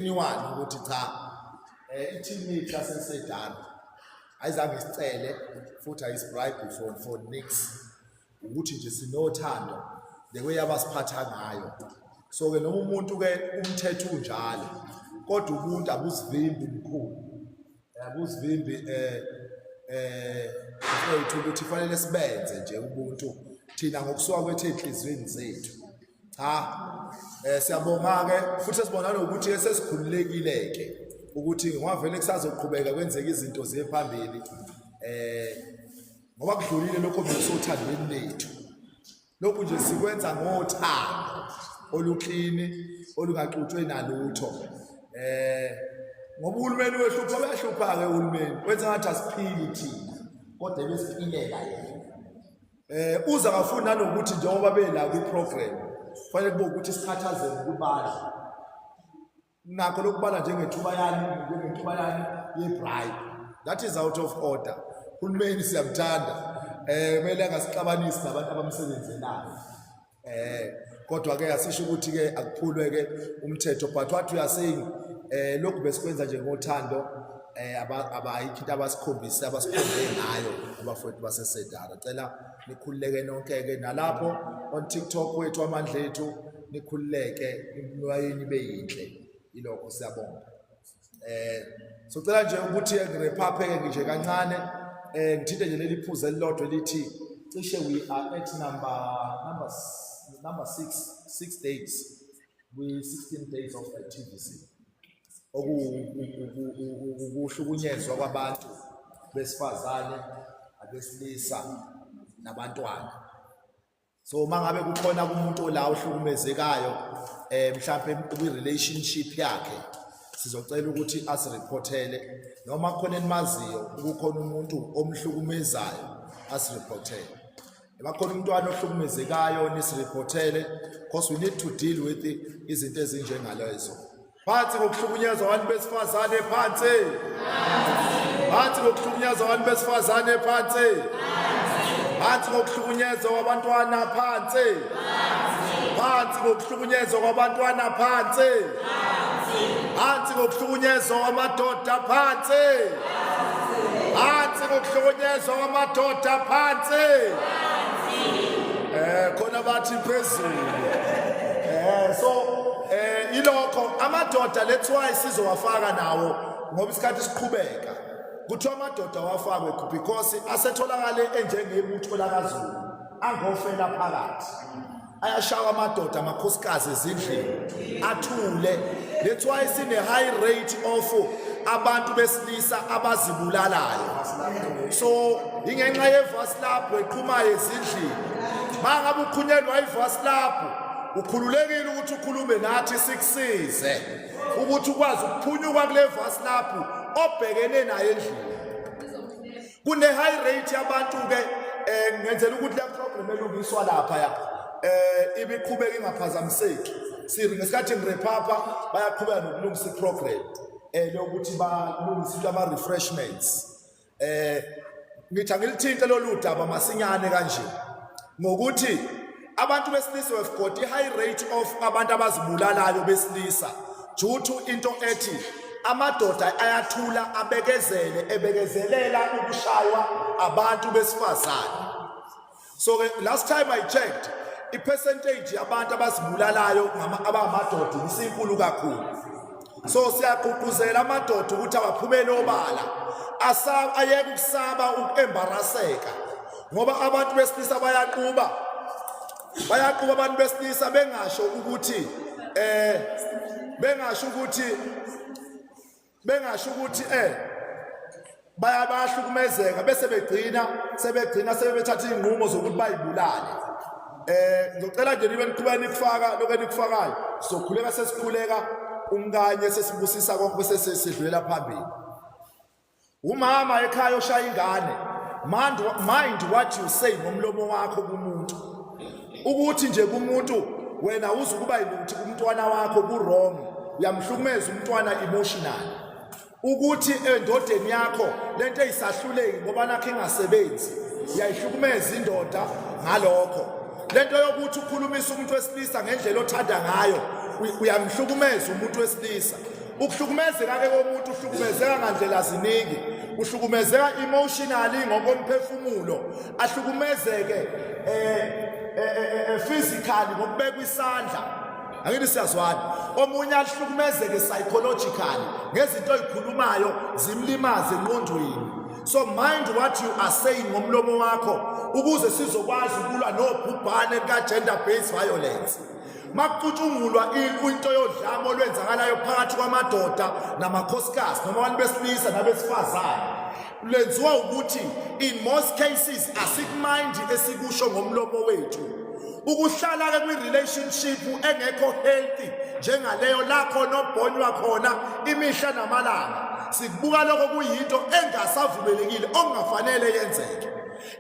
genuine ukuthi cha eh i-team yethu yasesedana ayizange isicele futhi ayisibribe for for nix ukuthi nje sinothando the way abasiphatha ngayo so ke noma umuntu ke umthetho unjalo kodwa ubuntu abuzivimbi mkhulu Kuzivimbi eh eh mfowethu ukuthi fanele sibenze nje ubuntu thina ngokusuka kwethu ezinhlizweni zethu cha eh siyabonga ke futhi sibona nokuthi esesikhululekile ke ukuthi ngwavele kusazoqhubeka kwenzeka izinto ziye phambili eh ngoba kudlulile lokho bekusothando lethu Lokhu nje sikwenza ngothando oluklini olungaxutshwe nalutho. Eh ngoba uhulumeni wehlupha uyahlupha ke uhulumeni. Wenza ngathi asiphili thina kodwa ebesiphilela yena. Eh uza ngafuni nanokuthi njengoba bela kwi program kufanele kube ukuthi sikhathazeke kubadla nakho lokubala njengethuba yani njengethuba yani yebribe that is out of order uhulumeni siyamthanda eh kumele angasixabanisi nabantu abamsebenzelayo eh kodwa ke asisho ukuthi ke akuphulwe ke umthetho but what we are saying eh lokhu besikwenza nje ngothando eh abayikho into abasikhombise abasikhombe ngayo abafowethu basesedara cela nikhululeke nonke ke nalapho on TikTok wethu amandla ethu nikhululeke imnulo yenu ibe yinhle ilokho siyabonga eh socela nje ukuthi ngirephapheke nje kancane eh ngithinte nje leli phuze elilodwa elithi cishe we are at number number number 6 6 days we 16 days of activity okuhlukunyezwa kwabantu besifazane abesilisa nabantwana so uma ngabe kukhona kumuntu ola ohlukumezekayo um mhlawumpe kwi-relationship yakhe sizocela ukuthi asiriphothele noma khona enimaziyo ukukhona umuntu omhlukumezayo asiriphothele bakhona umntwana ohlukumezekayo nisiriphothele because we need to deal with izinto ezinjengalezo phansi ngokuhlukunyezwa abantu besifazane phansi phansi ngokuhlukunyezwa abantu besifazane phansi phansi ngokuhlukunyezwa kwabantwana phansi phansi ngokuhlukunyezwa kwabantwana phansi phansi ngokuhlukunyezwa kwamadoda phansi phansi ngokuhlukunyezwa kwamadoda phansi eh khona bathi phezulu eh so Eh ilokho amadoda let's why sizowafaka nawo ngoba isikhathi siqhubeka. Kuthiwa amadoda wafakwe because asetholakale enjengebutho lakaZulu angofela phakathi. Ayashawa amadoda amakhosikazi ezindlini athule. Let's why sine high rate of abantu besilisa abazibulalayo so ingenxa yevasilabhu eqhumayo ezindlini mangabe ukhunyelwa ivasilabhu ukhululekile ukuthi ukhulume nathi sikusize ukuthi ukwazi ukuphunyuka kule vasi lapho obhekene naye endlini kune-high rate yabantu-ke um eh, ngenzela ukuthi le problem elungiswa lapha ya um eh, ibiqhubeka ingaphazamiseki siri ngesikhathi ngirephapha bayaqhubeka nokulungisa iprogram um eh, leyokuthi balungise into ama-refreshments eh ngithi angilithinte lolu daba masinyane kanje ngokuthi abantu besilisa have got a high rate of abantu abazibulalayo besilisa due to into ethi amadoda ayathula abekezele ebekezelela ukushaywa abantu besifazane so ke last time i checked ipercentage yabantu abazibulalayo abangamadoda isinkulu kakhulu so siyagqugquzela amadoda ukuthi awaphumele obala ayeke ukusaba ukuembaraseka ngoba abantu besilisa bayaquba bayaquba abantu besilisa bengasho ukuthi eh bengasho ukuthi bengasho ukuthi eh bayabahlukumezeka bese begcina sebegcina sebethatha izinqumo zokuthi bayibulale eh ngicela nje nibe niqhubeka nikufaka lokho enikufakayo sokhuleka sesikhuleka umkanye sesibusisa konke bese sidlulela phambili umama ekhaya oshaya ingane mind mind what you say ngomlomo wakho kumuntu ukuthi nje kumuntu wena uze ukuba yiluthi kumntwana wakho ku-wrong uyamhlukumeza umntwana emotional ukuthi endodeni yakho le nto eyisahluleki ngoba nakho ingasebenzi uyayihlukumeza indoda ngalokho le nto yokuthi ukhulumisa umuntu wesilisa ngendlela othanda ngayo uyamhlukumeza umuntu wesilisa ukuhlukumezeka-ke komuntu uhlukumezeka ngandlela ziningi uhlukumezeka emotionally ngokomphefumulo ahlukumezeke eh, eh, eh, eh physically ngokubekwa isandla angithi siyazwana omunye ahlukumezeke psychologically ngezinto oyikhulumayo zimlimaze enqondweni so mind what you are saying ngomlomo wakho ukuze sizokwazi ukulwa nobhubhane lika-gender based violence makucutshungulwa into yodlame olwenzakalayo phakathi kwamadoda namakhosikazi noma abantu besilisa nabesifazane Lenziwa ukuthi in most cases asikumind esikusho ngomlomo wethu. Ukuhlala ke kwi relationship engekho healthy njengaleyo lakho nobhonywa khona imihla namalanga. Sikubuka lokho kuyinto engasavumelekile okungafanele yenzeke.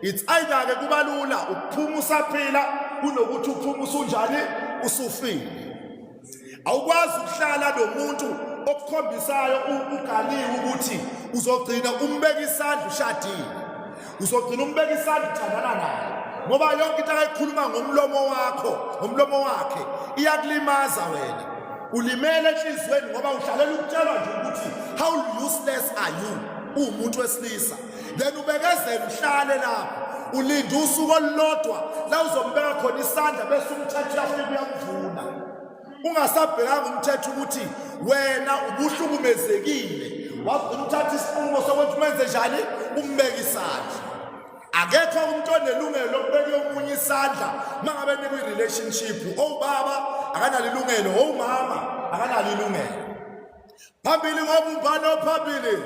It's either ke kubalula ukuphuma usaphila kunokuthi uphuma usunjani usufile. awukwazi ukuhlala nomuntu okukhombisayo ugaliwe ukuthi uzogcina umbeka isandla ushadile uzogcina umbeka isandla uthandana naye ngoba yonke into akayikhuluma ngomlomo wakho ngomlomo wakhe iyakulimaza wena ulimele enhliziyweni ngoba uhlalela ukutshelwa nje ukuthi how useless are you uwumuntu wesilisa then ubekezela uhlale lapho ulinde usuku olulodwa la uzombeka khona isandla bese umthetho uyafika uyakuvuna ungasabhekanga umthetho ukuthi wena ubuhlukumezekile wagcina uthatha isinqumo sokuthi umenze njani umbeke isandla akekho umuntu onelungelo lokubeka omunye isandla uma ngabe nikwi-relationship owubaba akanalo ilungelo owumama akanalo ilungelo phambili ngobumbano phambili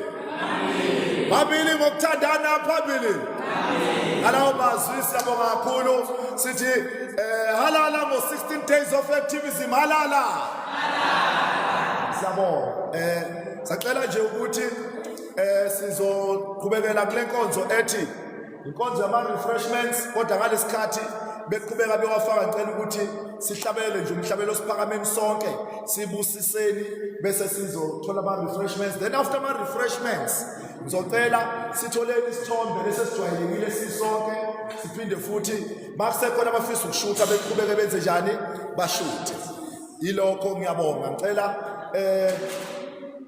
phambili ngokuthandana phambili ngalawo mazwi siyabonga kakhulu sithi eh halala ngo 16 days of activism halala siyabonga eh sacela nje ukuthi eh sizoqhubekela kule nkonzo ethi inkonzo yama-refreshments kodwa ngalesi khathi beqhubeka bewafaka ngicela ukuthi sihlabele nje umhlabelo osiphakameni sonke sibusiseni bese sizothola ama-refreshments then after ama-refreshments ngizocela sitholeni isithombe lesi esijwayelekile sisonke siphinde futhi makusekhona abafisa ukushutha beqhubeke benze njani bashuthe yilokho ngiyabonga ngicela um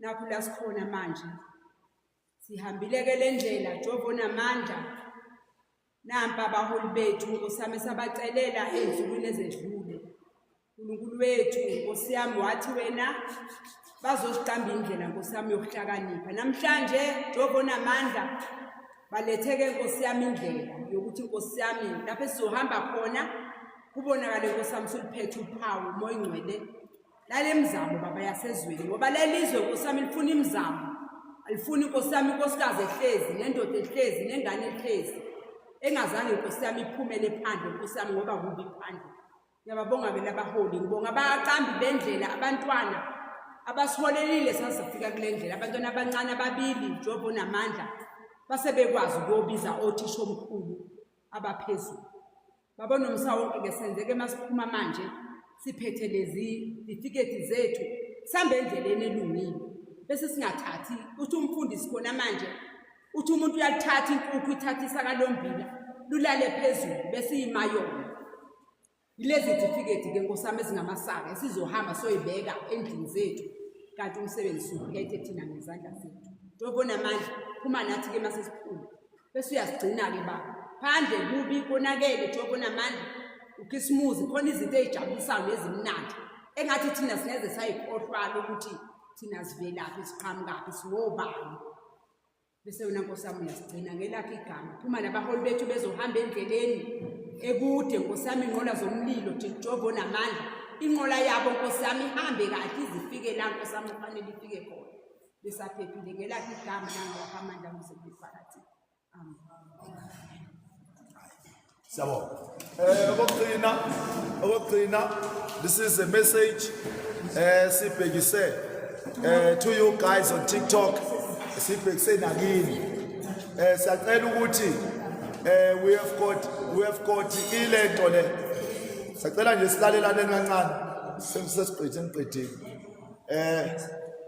nakhu la sikhona manje sihambile-ke le ndlela jehova onamandla nampa abaholi bethu nkosiyami esabacelela ey'nsukwini ezedlule unkulunkulu wethu nkosiyami wathi wena bazosiqamba indlela nkosiyami yokuhlakanipha namhlanje jehova onamandla baletheke nkosiyami indlela yokuthi nkosiyami lapho esizohamba khona kubonakale nkosiyami suluphethe uphawu umoya ingcwele lale mzamo baba yasezweni ngoba lelizwe nkosi yami lifuna imizamo alifuni nkosi yami inkosikazi ehlezi nendoda ehlezi nengane ehlezi engazange nkosi yami iphumele phandle nkosi yami ngoba kubi phandle ngiyababonga bela abaholi ngibonga abaqambi bendlela abantwana abasiholelile sasifika kule ndlela abantwana abancane ababili njengoba namandla base bekwazi ukuyobiza othisha omkhulu abaphezulu Baba nomsa wonke ke senzeke masiphuma manje siphethe lezi tifiketi zethu sambe endleleni elungile bese singathathi uthi umfundisi khona manje uthi umuntu uyalithatha inkukhu ithathisa kalombila lulale phezulu bese imayona ilezi tifiketi ke nkosami ezingamasaka esizohamba soyibeka endlini zethu kanti umsebenzi suphethe thina ngezandla zethu tobona manje phuma nathi ke masesiphuma bese uyasigcina-ke baba phandle kubi konakele njengoba onamandla ukhisimuzi khona izinto ezijabulisayo nezimnandi engathi thina singeze sayikhohlwala ukuthi thina sivelaphi siqhamukaphi singobani bese yona nkosi yami uyasigcina ngelakho igama phuma nabaholi bethu bezohamba endleleni ekude nkosi yami inqola zomlilo jehova onamandla inqola yabo nkosi yami ihambe kahle izifike la nkosi yami kufanele ifike khona besaphephile ngelakhe igama nangawakho amandla muzebifakathi amen siyabona eh okugcina okugcina this is a message eh sibhekise eh to you guys on TikTok sibhekise nakini eh siyacela ukuthi eh we have got we have got ilento le sacela nje silalelane kancane sesiqedile ngiqedile Eh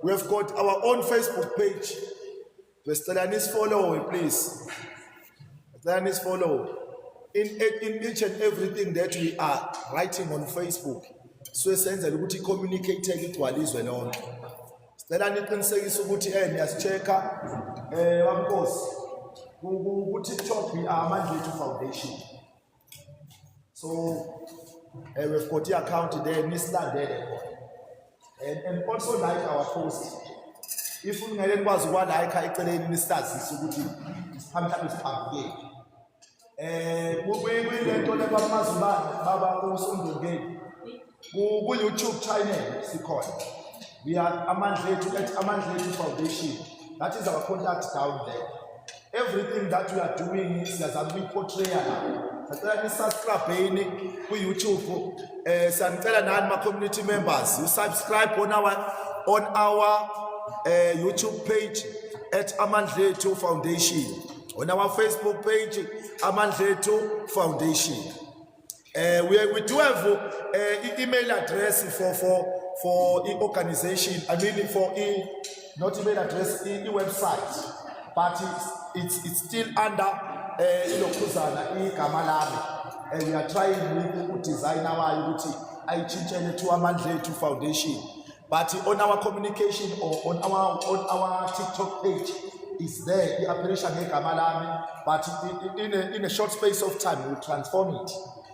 we have got our own Facebook page. Besicela nisifollow please. Besicela nisifollow. In, in each and everything that we are writing on Facebook. So senzela ukuthi communicate igcwale izwe lonke. Sicela niqinisekise ukuthi eh niyasichecka eh wamkosi ku TikTok we are Mandlethu Foundation. so uh, we've got the account there nisilandele khona and, and also like our post if ungeke nikwazi ukwalayikha eceleni nisazise ukuthi isiphambili isiphambukeli um eh, kuyilento lebamazibane baba kusondongeni ku-youtube channel sikhona we are amandla ethu at amandla ethu foundation that is our contact down there everything that we are doing siyazama ukuyiportraya lapho sacela nisubscribheni ku-youtube um eh, siyanicela nani ma-community members you subscribe on our, on our uh, youtube page at amandla ethu foundation on our facebook page amandla ethu foundation Uh, we, we do have uh, email address for for for e organization. I mean for e not email address e, e website, but it's it's, it's still under uh, ilokhuzana igama lami, and we are trying with designer wayo ukuthi ayitshintshele to Amandlethu Foundation. but on our communication or on our, on our tiktok page is there i-appelisha ngegama lami but in a, in a short space of time will transform it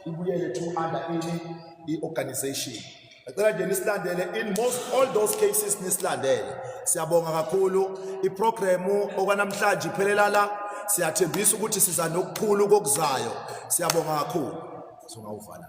ibuyele to under ini i-organization ngicela nje nisilandele in most all those cases nisilandele siyabonga kakhulu iprogramu okwanamhlanje iphelela la siyathembisa ukuthi siza nokukhulu kokuzayo siyabonga kakhulu singawuvala